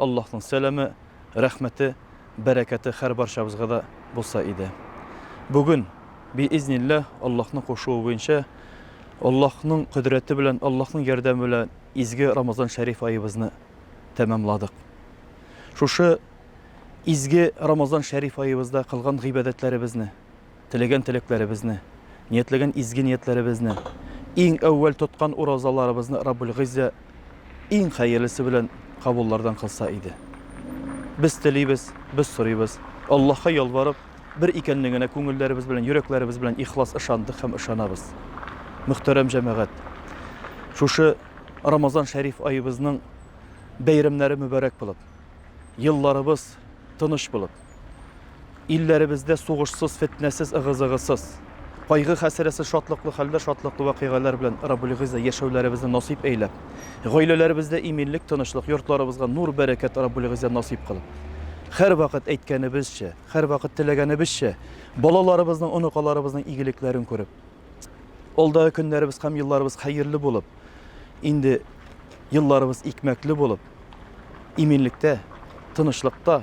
Аллаһның сәламе, рәхмәте, бәрәкәте хәр барчабызга да булса иде. Бүген, биизнилләһ, Аллаһның кушуы буенча, Аллаһның кодрәте белән, Аллаһның ярдәме белән изге Рамазан шәриф аебызны тәмамладык. Шушы изге Рамазан шәриф аебызда кылган гыйбадәтләребезне, Теләгән теләкләребезне, ниятләгән изге ниятләребезне, иң әүвәл тоткан уразаларыбызны Раббул Гыйззә иң хәерлесе белән кабуллардан кылса иде. Без телибез, без сорыйбыз. Аллаһка ялварып, бер икәнлегенә күңелләребез белән, йөрәкләребез белән ихлас ышандык һәм ышанабыз. Мөхтәрәм җәмәгать, шушы Рамазан шәриф аебызның бәйрәмнәре мөбарәк булып, елларыбыз тыныч булып, Илләребездә сугышсыз, фетнәсез, ыгы-зыгысыз, кайгы-хәсрәсез, шатлыклы хәлдә, шатлыклы вакыйгалар белән Раббул Гыйззә яшәүләребезне насыйп әйлә. Гаиләләребездә иминлек, тынычлык, йортларыбызга нур, бәрәкәт Раббул Гыйззә насыйп кыл. Һәрвакыт әйткәнебезчә, һәрвакыт теләгәнебезчә, балаларыбызның, оныкаларыбызның игелекләрен күреп, алдагы көннәребез һәм елларыбыз хәерле булып, инде елларыбыз икмәкле булып, иминлектә, тынычлыкта,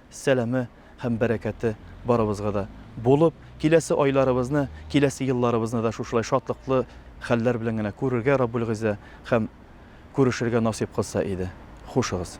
сәламе һәм бәрәкәте барыбызга да булып, киләсе айларыбызны, киләсе елларыбызны да шушылай шатлыклы хәлләр белән генә күрергә Раббулгыйззә һәм күрешергә насыйп кылса иде. Хушыгыз.